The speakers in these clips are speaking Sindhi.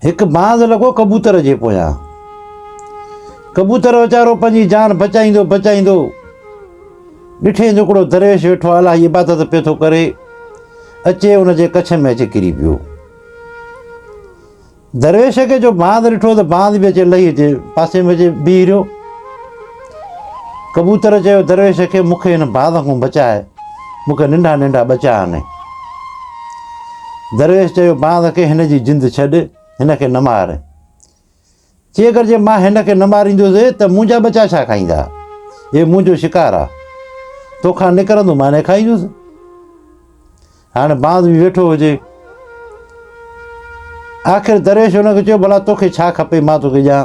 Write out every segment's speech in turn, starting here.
هڪ باز لڳو ڪبوتر جي پويان. ڪبوتر ويچارو پنهنجي جان بچائيندو بچائيندو ڏٺيائين جو هڪڙو درويش ويٺو آهي الاهي عبادت پيو ٿو ڪري اچي ان جي ڪڇ ۾ اچي ڪري پيو درويش کي جو باز ڏٺو ته باز به اچي لهي اچي پاسي ۾ اچي بيهي رهيو ڪبوتر چيو، درويش کي مون کي هن باز کان بچاء، مون کي ننڍا ننڍا ٻچا آڻي. درويش چيو، باز کي هن جي جند ڇڏ، هن کي نه مار. چي اگر جي مان هن کي نه ماريندوس ته منهنجا ٻچا ڇا کائيندا؟ هي منهنجو شڪار آ، تو کان نڪرندو مان هن کي کائيندوس. هاڻي باز به ويٺو هجي. آخر درويش هن کي چيو، ڀلا توکي ڇا کپي مان توکي ڏيان.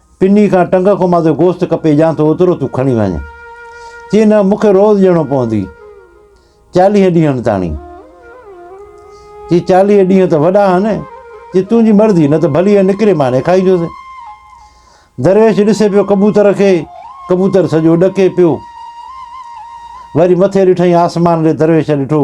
پني کان ٽنگ کان مان تون گوشت ڪپي ڏيان ٿو اوترو تون کڻي وڃ. چي نه مون کي روز ڏيڻو پوندي. چاليهه ڏينهن تاڻي. چي چاليهه ڏينهن ته وڏا آهن. چي تنهنجي مرضي نه ته ڀلي نڪري ماني کائي جوسين. درويش ڏسي پيو ڪبوتر کي. ڪبوتر سڄو ڏڪي پيو. وري مٿي ڏٺائين آسمان ڏي درويش ڏٺو.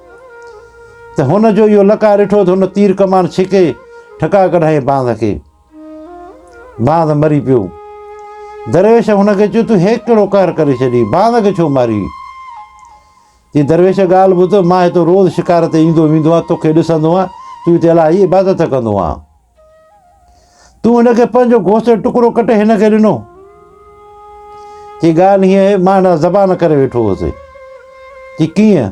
ته هن جو اهو لقاء ڏٺو ته هن تير ڪمان ڇڪي ٺڪا ڪڍائين باند کي باند مري پيو درويش هن کي چيو تون هيڪ ڪهڙو قهر ڪري ڇڏي باند کي ڇو ماري جي درويش ڳالھ ٻڌ مان هتو روز شڪار تي ايندو ويندو آهيان توکي ڏسندو آهيان تون هتي الائي عبادت ڪندو آهيان تون هن کي پنهنجو گوشت جو ٽڪرو ڪٽي هن کي ڏنو چي ڳالهه هيئن آهي مان هن زبان ڪري ويٺو هوسي چي ڪيئن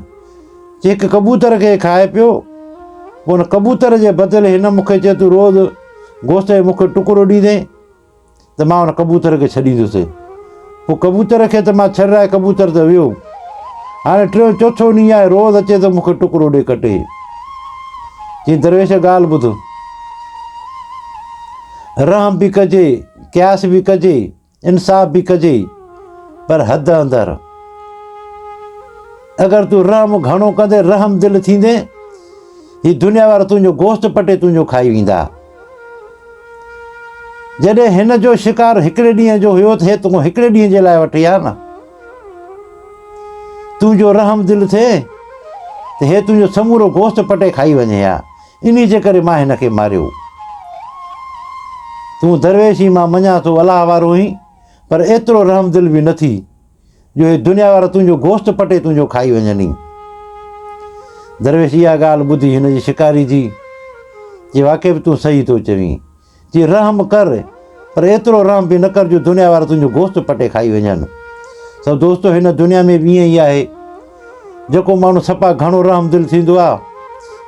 چي هڪ ڪبوتر کي کائي پيو پوء هن ڪبوتر جي بدل هن مونکي چي تون روز گوشت جو مونکي ٽڪرو ڏيندين ته مان ان ڪبوتر کي ڇڏيندوسين. پوء ڪبوتر کي ته مان ڇڏرائي ڪبوتر ته ويو. هاڻي ٽيون چوٿون ڏينهن آهي روز اچي ٿو مون کي ٽڪرو ڏي ڪٽي. چي درويش ڳالهه ٻڌ. رحم به ڪجي، قياس به ڪجي، انصاف به ڪجي پر حد اندر. اگر تون رحم گهڻو ڪندين رحم دل ٿيندين هي دنيا وارا تنهنجو گوشت پٽي تنهنجو کائي ويندا. جڏهن هن جو شڪار هڪڙي ڏينهن جو هيو ٿئي تون هڪڙي ڏينهن جي لاء وٺي آ نه تون جو رحم دل ٿئي ته هي تنهنجو سمورو گوشت پٽي کائي وڃي ها انهي جي ڪري مان هن کي ماريو تون درويش ئي مان مڃان ٿو الله وارو هين پر ايترو رحم دل به نه ٿي جو هي دنيا وارا تنهنجو گوشت پٽي تنهنجو کائي وڃن ئي. درويش اها ڳالهه ٻڌي هن جي شڪاري ٿي، چي واقعي به تون صحيح ٿو چوين. چي رحم ڪر، پر ايترو رحم به نه ڪر جو دنيا وارا تنهنجو گوشت پٽي کائي وڃن. سو دوستو هن دنيا ۾ به ائين ئي آهي. جيڪو ماڻهو سپا گهڻو رحم دل ٿيندو آ،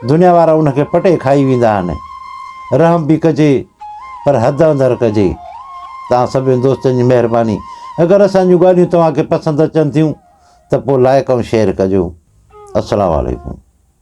دنيا وارا ان کي پٽي کائي ويندا آهن. رحم به ڪجي پر حد اندر ڪجي. توهان سڀني دوستن جي مهرباني. اگر اسان جون ڳالهيون توهان کي پسند اچن ٿيون ته پوء لائيڪ ۽ شيئر ڪجو. السلام عليڪم.